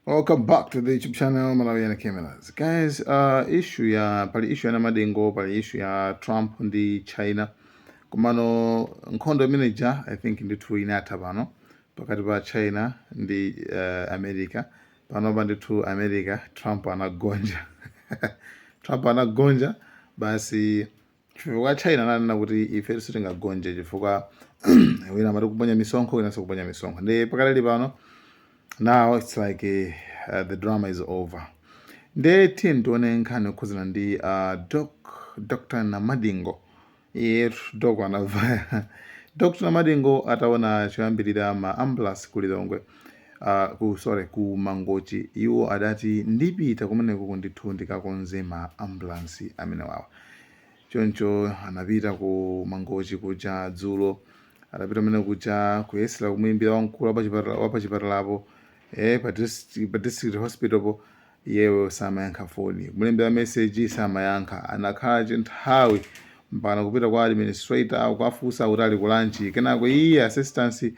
Welcome back to the YouTube channel Malawian Cameras. Guys, uh, issue ya pali issue ya Namadengo, pali issue ya Trump ndi China. Komano nkhondo imene ija I think ndithu inatha pano pakati pa China ndi uh, America. Pano pa ndithu America Trump anagonja. Trump anagonja basi Chifukwa China ananena kuti ife sitingagonje chifukwa wina amati kuponya misonkho wina n'kuponya misonkho nde pakadali pano now it's like uh, the drama is over nde tiyeni tione nkhani yokhudzana ndi uh, doc dr namadingo iye doc anavaya dr namadingo ataona choyambirira ma ambulance ku lilongwe a, ku, sorry, ku Mangochi, iwo adati ndipita kumenekoko ndithu ndikakonze ma ambulansi amenewawa. Choncho anapita ku Mangochi kuja dzulo, adapita kumene kuja kuyesera kumuyimbira wamkulu wapachipatala wapachipatalapo eh, pa district, pa district hospital po, Iyeyo samayankha foni, kumulembera message samayankha, anakhala chinthawi mpakana kupita kwa administrator kuwafunsa kuti ali ku lunch, kenako iye assistance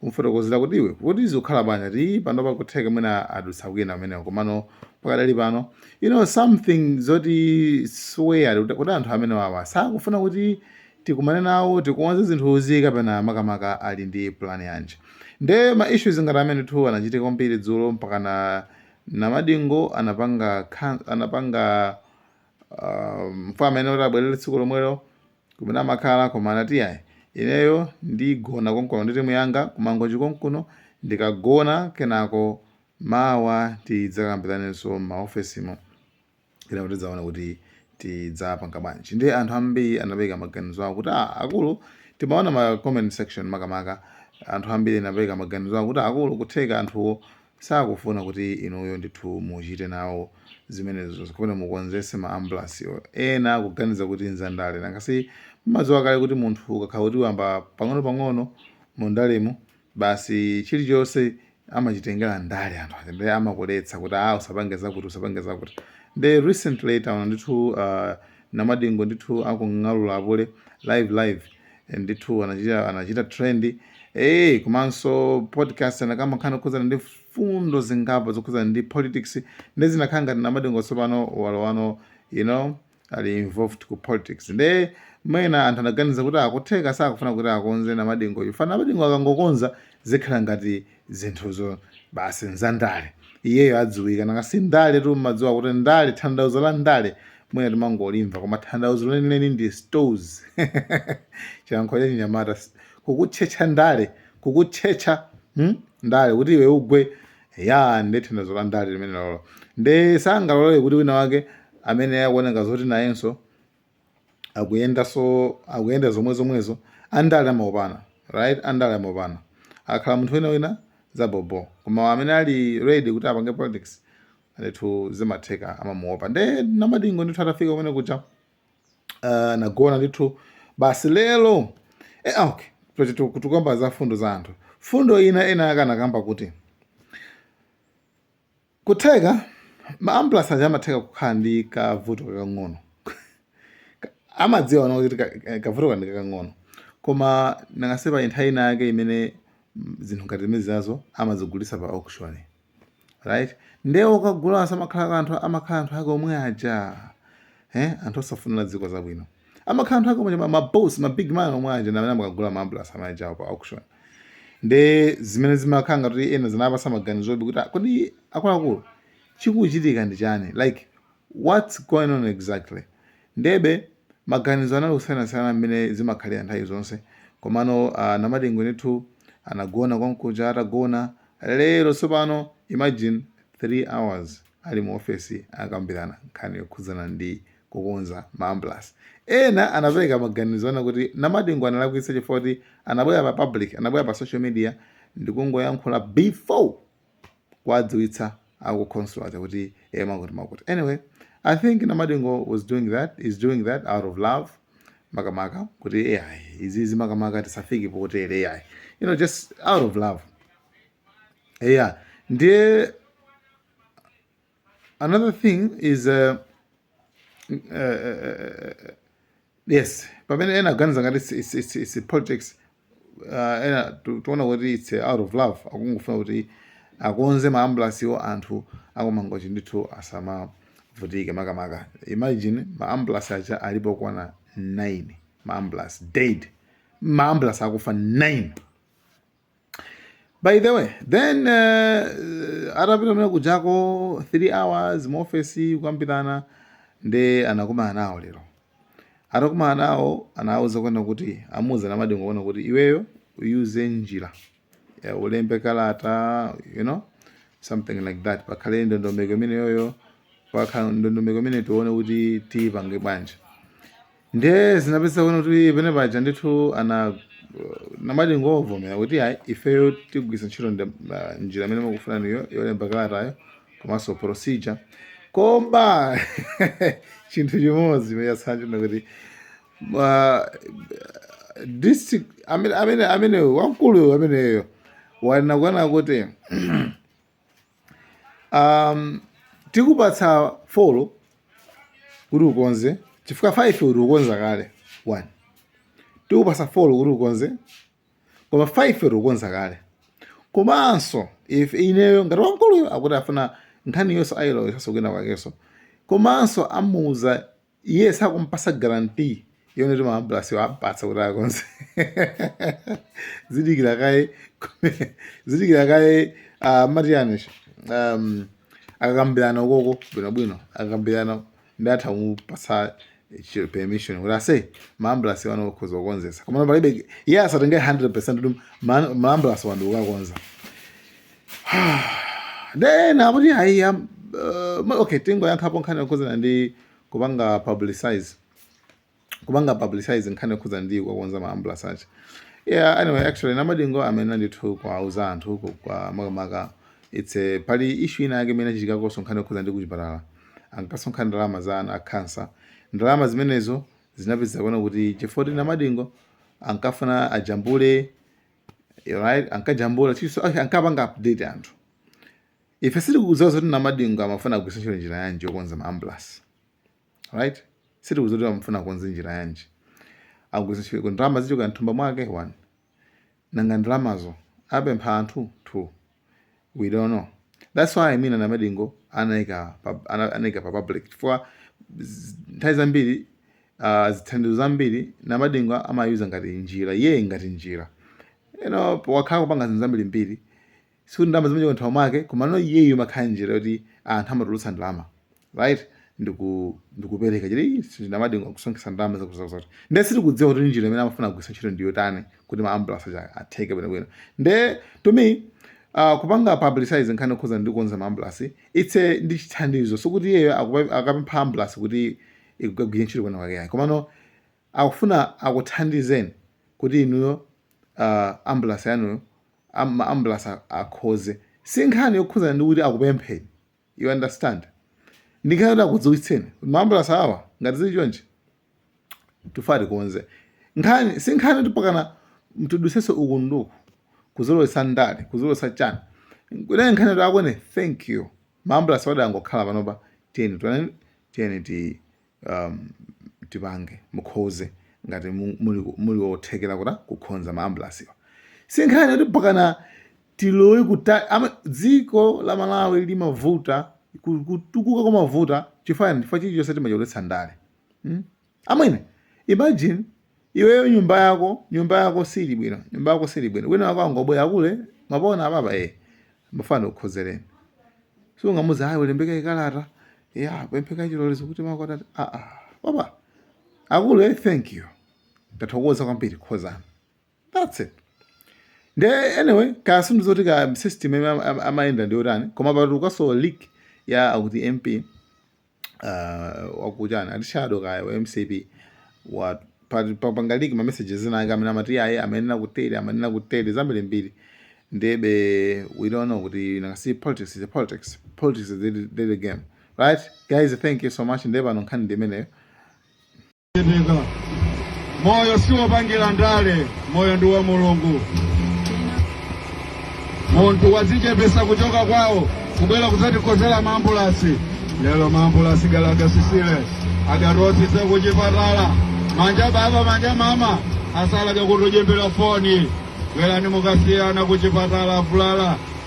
kumufotokozera kuti iwe kuti zikukhala bwanji ati ii panopa kutheka mwina adutsa kwina kumeneko komano pakadali pano you know something zoti swear kuti kuti anthu amene wawa sakufuna kuti tikumane nawo tikonze zinthuzi kapena makamaka ali ndi plan yanji nde ma issues ngati amene tu anachitika kwambiri dzulo mpakana Namadingo anapanga anapanga mfuma ina kuti abwerere tsiku lomwelo kumene amakhala koma anati yayi ineyo ndigona konkuno ndi timu yanga kumangochi konkuno ndikagona kenako mawa tidzakambiranenso m'maofesimo kenako tidzaona kuti tidzapanga bwanji ndiye anthu ambiri anapereka maganizo awo kuti "Ah, akulu timaona ma comment section makamaka anthu ambiri anapereka maganizo awo kuti akulu kutheka anthuwo sakufuna kuti inuyo ndithu muchite nawo zimenezo zikapena mukonzetse ma ambulance ena akuganiza kuti nzandale nanga si mmadziwa kale kuti munthu ukakhala kuti wayamba pang'ono pang'ono mu ndalemu Basi chilichonse amachitengera ndale anthu aja ndiye amakuletsa kuti aa usapange zakuti usapange zakuti ndiye recently taona ndithu uh, namadingo ndithu akung'alula apule live live eh, ndithu anachita, anachita trend eh komanso podcast anakamba nkhani yokhudzana ndi mfundo zingapo zokhudzana ndi politics nde zinakhala ngati namadingo tsopano walowano you know ali involved ku politics nde mwina anthu anaganiza kuti aa kutheka sakufuna kuti akonze namadingo chifukwa namadingo akangokonza zikhala ngati zinthuzo basi nzandale iyeyo adziwika nanga si ndale tu mmadziwa kuti ndale tanthauzo la ndale mwina timangolimva koma tanthauzo lenileni ndi stores chilankhulo cha chinyamata kukutchetcha ndale kukutchetcha hmm? ndale kuti iwe ugwe Eya, nde tanthauzo la ndale limenelolo. Nde sangalore kuti wina wake amene akuoneka zoti nayenso akuyendanso akuyenda zomwe zomwezo andale amaopana right andale amaopana akhala munthu wina wina za bobo koma amene ali ready kuti apange politics ndithu zimatheka amamuopa nde namadingo ndithu atafika kumene kuja uh, nagona ndithu basi lero eh, ah, okay tukamba za fundo za anthu fundo ina ena akanakamba kuti kutheka maambulansi aja amatheka kukhala ndi kavuto kakang'ono amadziwa zoona kuti eh, kavuto kake ndi kakang'ono koma nanga si pa nthawi ina yake imene mm, zinthu ngati zimene zinazo amazigulitsa pa auction right nde okagula aja samakhala anthu amakhala anthu ake omwe aja eh anthu osafunira dziko zabwino amakhala anthu ake omwe ma- ma boss ma big man omwe aja ndi amene amakagula ma ambulance aja pa auction nde zimene zimakhala ngati kuti ena zinawapatsa maganizobe kuti "Ah, kodi akuluakulu chikuchitika ndi chani like what's going on exactly ndebe maganizo anali kusiyanasiyana mmene zimakhalira nthawi zonse komano a namadingo ndithu anagona konkuja atagona lero tsopano imagine 3 hours ali mu ofesi akambirana nkhani yokhudzana ndi kukonza ma ambulasi ena anapereka maganizo onena kuti namadingo analakwitsa chifukwa choti anabwera pa public anabwera pa social media ndikungoyankhula before kuwadziwitsa aku khonsolo aja kuti e mwakuti mwakuti anyway i think namadingo was doing that is doing that out of love makamaka kuti ayi izizi makamaka tisafike potere ayi you know just out of love yeah ndiye another thing is uh, uh, yes pamene ena aganiza ngati it's, it's, it's, it's politics uh, ena tu- tikuona kuti it's uh, out of love akungofuna kuti akonze maambulasiwo anthu akumangochi ndithu asamavutike makamaka imagine maambulasi aja alipo okwana 9 maambulasi dead maambulasi akufa 9 by the way then uh, atapita kumene kujako 3 hours mu office kukambirana nde anakumana nawo lero atakumana nawo anawauza kunena kuti amuuza namadingo kunena kuti iweyo uyuze njira yeah, ulembe kalata you know something like that pakhale ndondomeko imeneyoyo pakhale ndondomeko imene tione kuti tiyipange bwanji ndiye zinapezeka kunena kuti penapaja ndithu a namadingo avomera kuti ayi ifeyo tigwiritsa ntchito nda- ah, njira imene mukufuna inuyo yolemba kalatayo komanso procedure koma chinthu chimodzi chimene chatsala kuti ah, district amene amene amene wamkulu ameneyo wanena kunena kuti um, tikupatsa 4 kuti ukonze chifukwa 5 kuti ukonza kale 1 tikupatsa 4 kuti ukonze koma 5 kuti ukonza kale komanso if ineyo ngati wamkuluyo akuti afuna nkhani yonse ayilowesanso kwina kwakenso komanso amuuza iye sakumpasa guarantee yonena kuti maambulansi ampatsa kuti akonze zidikira kaye zidikira kaye ah, mati anish um, akakambirana ukoko bwinobwino akakambirana ndi atha kumupasa chi- permission kuti ase maambulansiwa ano ukhoza kukonzesa komano palibe iye asatenge 100 kuti ma- maambulansi wandi ukakonza then akuti ayi am- uh, ma- okay ndingoyankhapo nkhani yokhuzana ndi kupanga publicize kupanga publicize nkhani yokhuzana ndi kukonza ma ambulance aja yeah anyway actually namadingo amene ndithu kwauza anthu ku- kwa makamaka it's a, pali issue ina yake imene inachitikakonso nkhani yokhuzana ndi kuchipatala ankasonkha ndalama za ana a cancer ndalama zimenezo zinapeza kuonadi kuti chifoti namadingo ankafuna ajambule right ankajambula chilichonse ankapanga update anthu ife sitikudziwa zoti namadingo amafuna kugwiritsa ntchito njira yanji yokonza maambulasi right sitikudziwa kuti amafuna kukonza njira yanji agwiritsa ntchito kuti ndalama zichoka mthumba mwake one nanga ndalamazo apempha anthu two we don't know that's why I mean Namadingo anaika pa, ana- anaika pa public chifukwa z- nthawi zambiri uh, zithandizo zambiri Namadingo amayuza ngati njira iye ngati njira you know wakhala kupanga zinthu zambirimbiri sikuti ndalama zimachoka mthumba mwake komano iyeyo amakhala njira yoti anthu amatulutsa ndalama right ndiku ndikupereka chete Namadingo kusonkhesa ndalama zakutizakuti nde sitikudziwa kuti njira imene amafuna kugwisa ntchito ndi yotani kuti ma ambulance aja atheke bwinobwino nde to me uh, kupanga publicize nkhani yokhuzana ndi kukonza ma ambulance it's ndi chithandizo sikuti iyeyo akupempha ambulance kuti ikagwire ntchito kwina kwake komano akufuna akuthandizeni kuti inuyo uh, ambulance yanuyo ma ambulance akonze si nkhani yokhuzana ndi kuti akupempheni you understand ndi nkhani yoti akudziwitseni maambulasi awa ngati zili chonchi tifuna tikonze nkhani si nkhani yoti mpakana mutidutsitse uku ndi uku kuzolowesa ndale kuzolowesa chani kunali nkhani yoti amwene thank you maambulasiwa adangokhala panopa tiyeni tiyeni ti um, tipange mukonze ngati mu- muli muli othekera kuti kukonza maambulasiwa si nkhani yoti mpakana tilowe kuta ama- dziko la malawi limavuta ku- kutukuka kumavuta chifani chifukwa chilichonse timalowetsa ndale mm? amwene imagine Iweyo nyumba yako nyumba yako sili bwino nyumba yako sili bwino wina wako angobwera akule mapona ababa eh mafana ndikukonzereni sungamuuze ayi ulembe kaye kalata yopempha chilolezo kuti makwatati a a baba akulu eh thank you ndathokoza kwambiri konzani that's it nde anyway kaya zinthu zoti ka system imene am- am- amayenda ndi yotani koma patulukanso leak ya akuti mp uh, wakujeni ati shadow kaya wa mcp wa pa- pa- panga leak ma messages ena ake amene amati ayi amanena kutere amanena kutere zambiri mbiri ndebe we don't know kuti nangasi politics is a politics politics is a dirty, dirty game right guys thank you so much ndebe pano nkhani ndi imeneyo Yendeka. Moyo si wopangira ndale, moyo ndi wa Mulungu. Munthu wadzichepesa kuchoka kwawo kubwera kudzatikonzera maambulasi lero maambulasi gala agasisile agatosisye kuchipatala manja baba manja mama asala jakutujimbila foni bwerani mkachisyano kuchipatala avulala